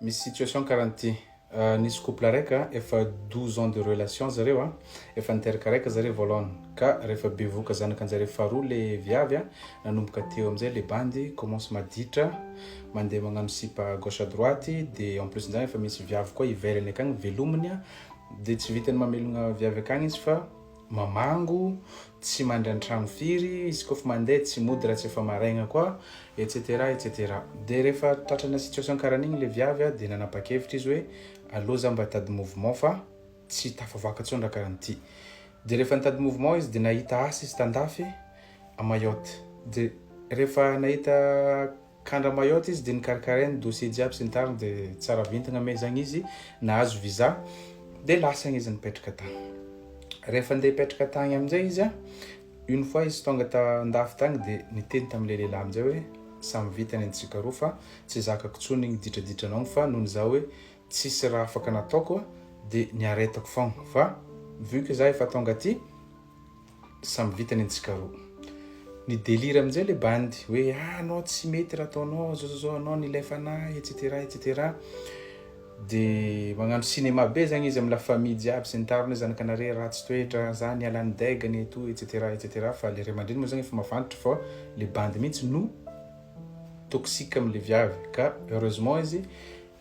Misy situation karaha an'ity, nisy couple raika efa douze ans de relation zareo a, efa niteraka raika zareo voalohany ka rehefa bevohoka zanakanjareo faharoa le viavy a, nanomboka teo amizay le bandy commence maditra, mandeha magnano sipa à gauche à droite, de en plus nzany efa misy viavy koa ivelany akagny velominy a, de tsy vitany mamelogna viavy akagny izy fa. mamango, tsy mandry antrano firy, izy koa fa mandeha tsy mody raha tsy efa maraigna koa, etc etc. Dia rehefa tratrana situation karan'igny le viavy a, dia nanapakevitra izy hoe aleo za mba hitady mouvement fa tsy tafavoaka tsony raha karan'ity. Dia rehefa nitady mouvement izy dia nahita asa izy tandafy a Mayotte. Dia rehefa nahita. Kandra Mayotte izy dia nikarakarainy dossier jiaby sy ny tariny dia tsara vintagna mais zagny izy nahazo visa dia lasagny izy nipetraka tagny. Rehefa ndeha hipetraka tagny amin'izay izy a, une fois izy tonga tan-dafy tagny dia niteny tamin'ilay lehilahy amin'izay hoe samy vita ny antsika roa fa tsy zakako tsony igny ditraditranao igny fa noho ny za hoe tsisy raha afaka nataoko dia niaretako fogna fa vu que za efa tonga aty Samy vita ny antsika roa. Ny délire amin'izay le bandy hoe ah anao tsy mety raha ataonao zao zao zao anao nilay fanahy etc etc. Dia magnano cinéma be zany izy amin'ny la famille jiaby sy ny tariny hoe zanakanaré ratsy toetra, za niala ny deg-ny et tout etc etc. Fa le ray aman-dreny moa zany efa mafantatra fa le bandy mihitsy no toxique amin'ilay viavy ka heureusement izy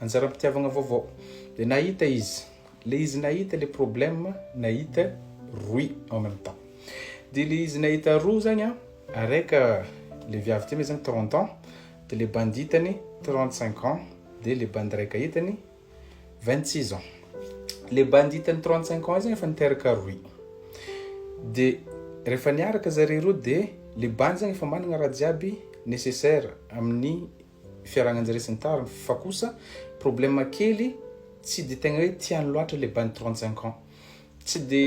Anjaram-pitiavagna vaovao. Dia nahita izy. Ilay izy nahita ilay problème nahita roy en même temps. Dia ilay izy nahita roa zagny an, araika ilay viavy ty moa zagny trente ans, dia ilay bandy hitany trente cinq ans, dia ilay bandy raika hitany vingt six ans. Ilay bandy hitany trente cinq ans zagny efa niteraka roy. Dia rehefa niaraka zareo roa dia ilay bandy zagny efa managna raha jiaby nécessaire amin'ny fiaragnanjare sy ny tariny fa kosa problème kely tsy de tegna hoe tiany loatra le bany trente cinq ans tsy de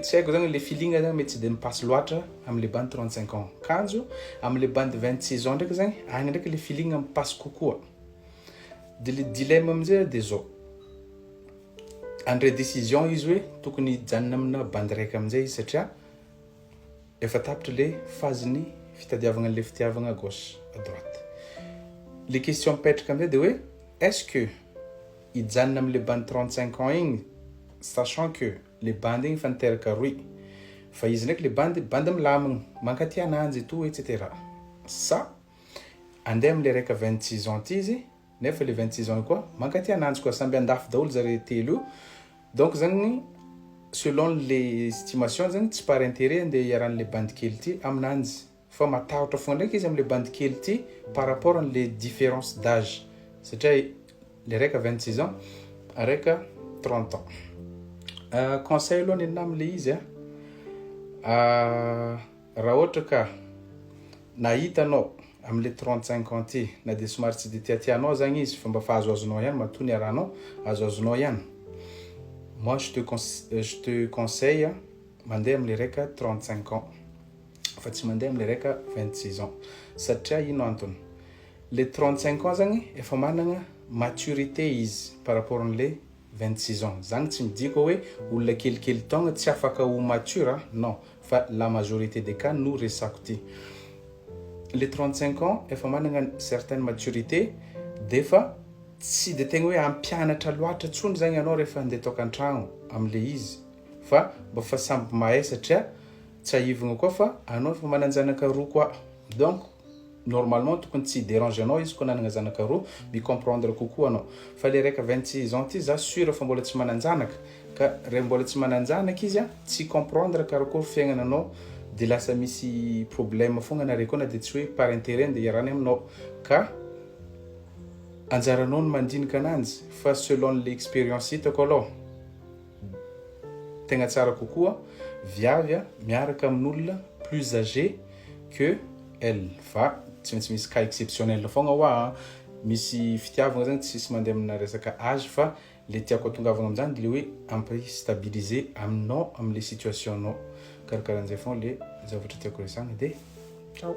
tsy haiko zany le feeling zany mety tsy de mipasse loatra amle bany trente cinq ans kanjo amle bandy vingt six ans ndraiky zany agny ndraiky le feeling mipasse kokoa de le dilemme amizay de zao andray decision izy hoe tokony hijanona amina bandy raiky amizay izy satria Efa tapitra le phase ny fitadiavagna anle fitiavagna à gauche à droite. Le question mipetraka amzay de hoe est ce que hijanona amle bandy trente cinq ans igny sachant que le bandy igny efa niteraka rohy fa izy ndraiky le bandy bandy milamigny mankatia ananjy et tout etc sa ande amle raika vingt six ans ty izy nefa le vingt six ans koa mankaty ananjy koa samby andafy daholo zare telo io donc zany selon le estimation zany tsy par intérêt andeha hiaran'le bandy kely ity aminanjy fa matahotra foana ndraiky izy amle bandy kely ity par rapport anle différence d'âge satria le raika vingt six ans raika trente ans euh, conseil aloha nenina amle izy a ah, ah, Raha ohatra ka nahita anao amin'ilay trente cinq ans ity na dia somary tsy dia tiatia anao aza izy fa mba fahazoazonao ihany matoa niarahanao azoazonao ihany moi je te je te conseille mandeha amin'ilay raika trente cinq ans fa tsy mandeha amin'ilay raika vingt six ans satria ino antony le trente cinq ans zany efa manana maturité izy par rapport an'ilay 26 ans zany tsy midika hoe olona kelikely taogna tsy afaka ho mature a non fa la majorité des cas no resako ty le 35 ans efa managna certaine maturité defa tsy de tegna hoe ampianatra loatra tsony zagny anao rehefa ande tokantragno amle izy fa mba fa samby mahay satria tsahivigna koa fa anao efa mananjanaka roa koa donc normalement tokony tsy hi-deranger anao izy koa nanagna zanaka roa, mi-comprendre kokoa anao. Fa le raika vingt-six ans ty za sûr fa mbola tsy manan-janaka, ka re mbola tsy manan-janaka izy a, tsy hi-comprendre karakory fiaignananao de lasa misy problème fogna nare koa na de tsy hoe par intérêt nde hiarany aminao, ka anjaranao ny mandinika ananjy, fa selon le expérience hitako alôha, tegna tsara kokoa viavy a miaraka amin'olona plus âgé que elle fa tsy maintsy misy cas exceptionnel fogna hoa a, misy fitiavagna zany tsisy mandeha amina resaka âge fa le tiako atongavagna amin'izany le hoe ampy stabilisé aminao amle situation nao, karakarahan'izay fogna le zavatra tiako resahana de ciao.